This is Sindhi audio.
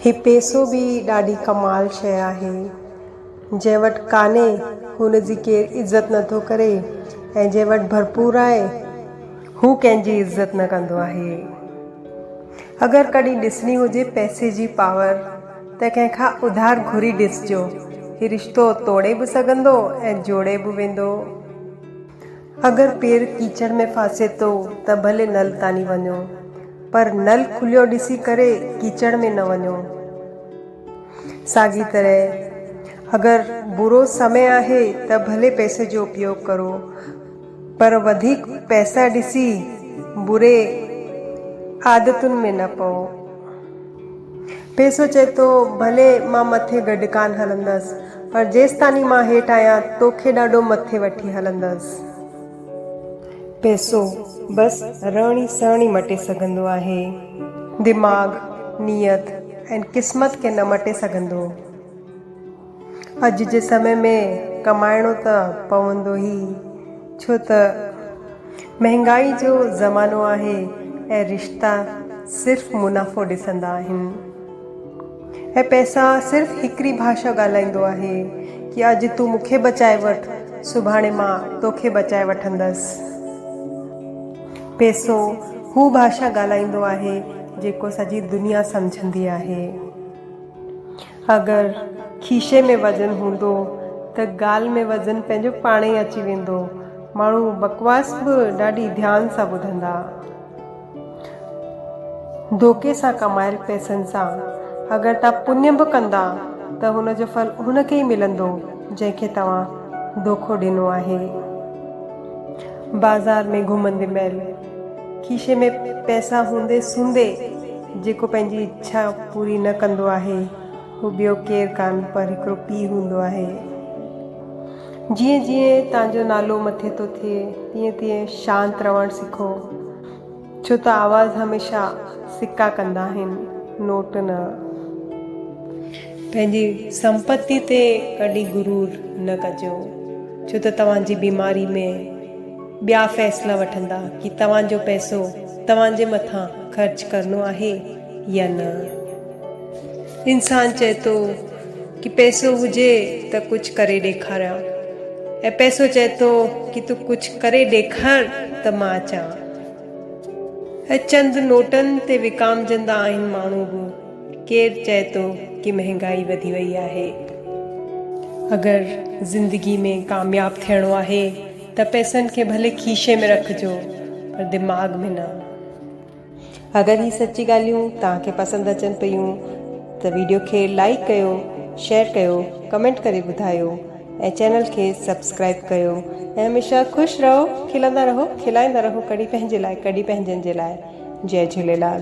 هي پيسو به ڏاڍي ڪمال شيء آهي، جنهن وٽ ڪانهي هن جي ڪير عزت نه ٿو ڪري ۽ جنهن وٽ ڀرپور آهي، هو ڪنهن جي عزت نه ڪندو آهي. اگر ڪڏهن ڏسڻي هجي پئسي جي پاور ته ڪنهن کان اڌار گهري ڏسجو، هي رشتو ٽوڙي به سگهندو ۽ جوڙي به ويندو. اگر پير ڪيچڙ ۾ ڦاسي ٿو ته ڀلي نل تاني وڃو پر نل کليو ڏسي ڪري ڪيچڙ ۾ نه وڃو. ساڳي طرح اگر برو سمي آهي ته ڀلي پئسي جو اپيوگ ڪرو پر وڌيڪ پئسا ڏسي بري عادتن ۾ نه پئو. پيسو چئي ٿو، ڀلي مان مٿي گڏ ڪانه هلندس، پر جيستاني مان هيٺ آهيان، توکي ڏاڍو مٿي وٺي هلندس. پيسو، بس رهڻ ئي سهڻ ئي مٽي سگهندو آهي. دماغ، نيت ۽ قسمت کي نه مٽي سگهندو. اڄ جي سمي ۾ ڪمائڻو ته پوندو ئي ڇو ته مهنگائي جو زمانو آهي ۽ رشتا صرف منافعو ڏسندا آهن ۽ پئسا صرف هڪڙي ڀاشا ڳالهائيندو آهي ڪي اڄ تون مون کي بچائي وٺ سڀاڻي مان تو کي بچائي وٺندس پئسو هو ڀاشا ڳالهائيندو آهي جيڪو سڄي دنيا سمجهندي آهي. اگر کيشي ۾ وزن هوندو ته ڳالهه ۾ وزن پنهنجو پاڻ ئي اچي ويندو. ماڻهو بڪواس به ڏاڍي ڌيان سان ٻڌندا. ڌوڪي سان ڪمايل پئسن سان اگر توهان پڃ به ڪندا ته ان جو ڦل ان کي ئي ملندو جنهن کي توهان ڌوڪو ڏنو آهي. بازار ۾ گهمندي مهل کيسي ۾ پئسا هوندي سوندي جيڪو پنهنجي اڇا پوري نه ڪندو آهي هو ٻيو ڪير ڪان پر هڪڙو پيء هوندو آهي. جيئن جيئن تان جو نالو مٿي ٿو ٿئي تيئن تيئن شانت رهڻ سکو ڇو ته آواز هميشه سڪا ڪندا آهن نوٽ نه. پنهنجي سمپتي تي ڪڏهن غرور نه ڪجو ڇو ته توهان جي بيماري ۾ ٻيا فيصلا وٺندا ڪي توهان جو پئسو توهان جي مٿان خرچ ڪرڻو آهي يا نه. انسان چئي ٿو ڪي پئسو هجي ته ڪجهه ڪري ڏيکاريان ۽ پئسو چئي ٿو ڪي تون ڪجهه ڪري ڏيکار ته مان اچان. اهي چند نوٽن تي وڪامجندا آهن ماڻهو به ڪير چئي ٿو ڪي مهنگائي وڌي وئي آهي. اگر زندگي ۾ ڪامياب ٿيڻو آهي. ته پئسن کي ڀلي کيشي ۾ رکجو پر دماغ ۾ نه. اگر هي سچي ڳالهيون توهان کي پسند اچن پيون ته ويڊيو کي لائيڪ ڪيو شيئر ڪيو ڪمينٽ ڪري ٻڌايو ۽ چينل کي سبسڪرائيب ڪيو ۽ هميشه خوش رهو کلندا رهو کلائيندا رهو ڪڙي پنهنجي لاء ڪڙي پنهنجن جي لاء جئي جهوليلال.